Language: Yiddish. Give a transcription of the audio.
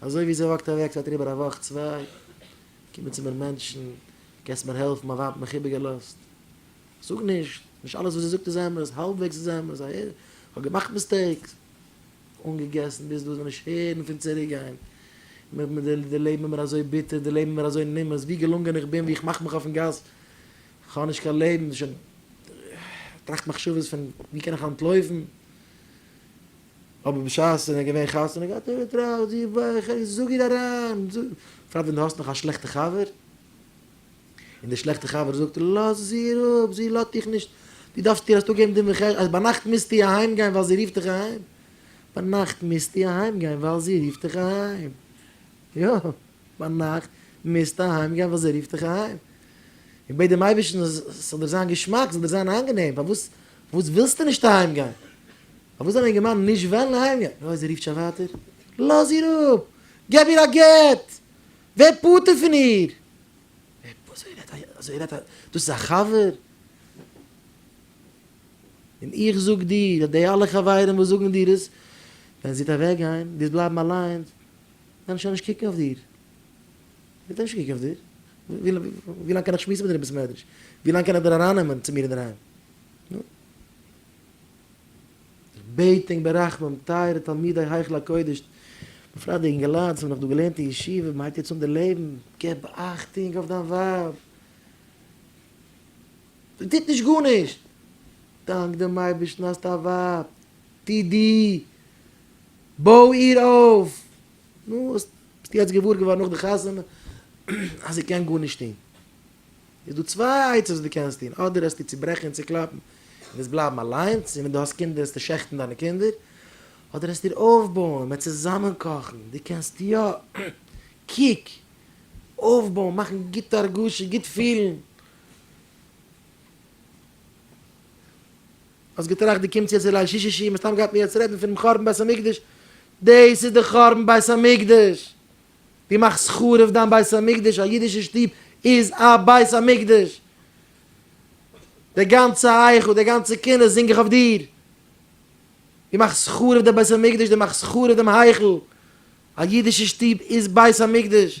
אזוי ווי זי וואקט אוועק זייט אריבער א וואך צוויי, קומען צו מיר מענטשן, קענסט מיר העלפן, מיין ווייב האט מיך איבערגעלאזט. זאג נישט, נישט אלעס וואס זי זאגט איז אמת, האלבוועגס איז אמת, א איך האב געמאכט מיסטעיקס. אנגעגעסן ביז דא, זיך נישט הערן פון צוריקגיין. די לעבן איז מיר אזוי ביטער, די לעבן איז מיר אזוי נמאס, ווי געלונגען איך בין, ווי איך מאך מיך אויפן גאס, איך האב נישט קיין לעבן, שוין טראכט מחשבות פון ווי קען איך אנטלויפן, אבער בשעת ער האט געווען חתונה געהאט האט ער געטראכט די וואך איך זאג איר אריין, בפרט ווען דו האסט נאך א שלעכטע חבר, און די שלעכטע חבר זאגט לאז איר אפ זי לאזט דיך נישט, דו דארפסט איר אויסטאג געבן דין וחשבון אז ביינאכט מוזטו אהיים גיין ווייל זי רופט דיך אהיים, ביינאכט מוזטו אהיים גיין ווייל זי רופט דיך אהיים, יא ביינאכט מוזטו אהיים גיין ווייל זי רופט דיך אהיים, און בעט דעם אייבערשטן אז ס'זאל דיר זיין געשמאק, ס'זאל דיר זיין אנגענעם, פארוואס ווילסטו נישט אהיים גיין? פארוואס זאל א אינגערמאן נישט וועלן אהיימגיין? נא זי רופט שוין ווייטער? לאז איר אפ! געב איר א גט! ווער פטור פון איר! אזוי רעדט א אזוי רעדט א דאס איז א חבר? און איך זאג דיר אז די אלע חברים וואס זאגן דיר עס, ווען זי וועט אוועקגיין, דו וועסט בלייבן אליינס, וועלן שוין נישט קוקן אויף דיר. וועט ער נישט קוקן אויף דיר? ווי לאנג קען איך שמועסן מיט דיר אין בית המדרש? ווי לאנג קען איך דיר ארייננעמען צו מיר אינדערהיים? איך בעט ענק ברחמים, טייערע תלמידי היכל הקודש, בפרט די אינגעלייט וואס האבן נאך דא געלערנט אין ישיבה, מען הייבט יעצט אן די לעבן, געב אכטונג אויף דיין ווייב, זי טוט נישט גארנישט, דאנק דעם אייבערשטן האסט א ווייב, טו דו, בוי איר אויף, נו, ביסט יעצט געוואר געווארן נאך די חתונה אז זי קען גארנישט טון. איז דא צוויי עצות וואס דו קענסט טון, אדער העסטו צוברעכן און צוקלאפן און וועסט בלייבן אליינס, און ווען דו האסט קינדער וועסטו שעכטן דיינע קינדער, אדער העסטו איר אויפבויען, מען צוזאמען קאכן, דו קענסט יא, קוק, אויפבויען, מאכן גוט הרגשה, גוט פילן. האסט געטראכט דו קומסט יעצט צו ליל שישי שיעור, מסתם גייט מען יעצט רעדן פונעם חורבן בית המקדש, דאס איז די חורבן בית המקדש! דו מאכסט חרוב דיין בית המקדש, א אידישע שטוב איז א בית המקדש, די גאנצע היכל, די גאנצע קינות זינג איך אויף דיר, דו מאכסט חרוב די בית המקדש, דו מאכסט חרוב דעם היכל, א אידישע שטוב איז בית המקדש,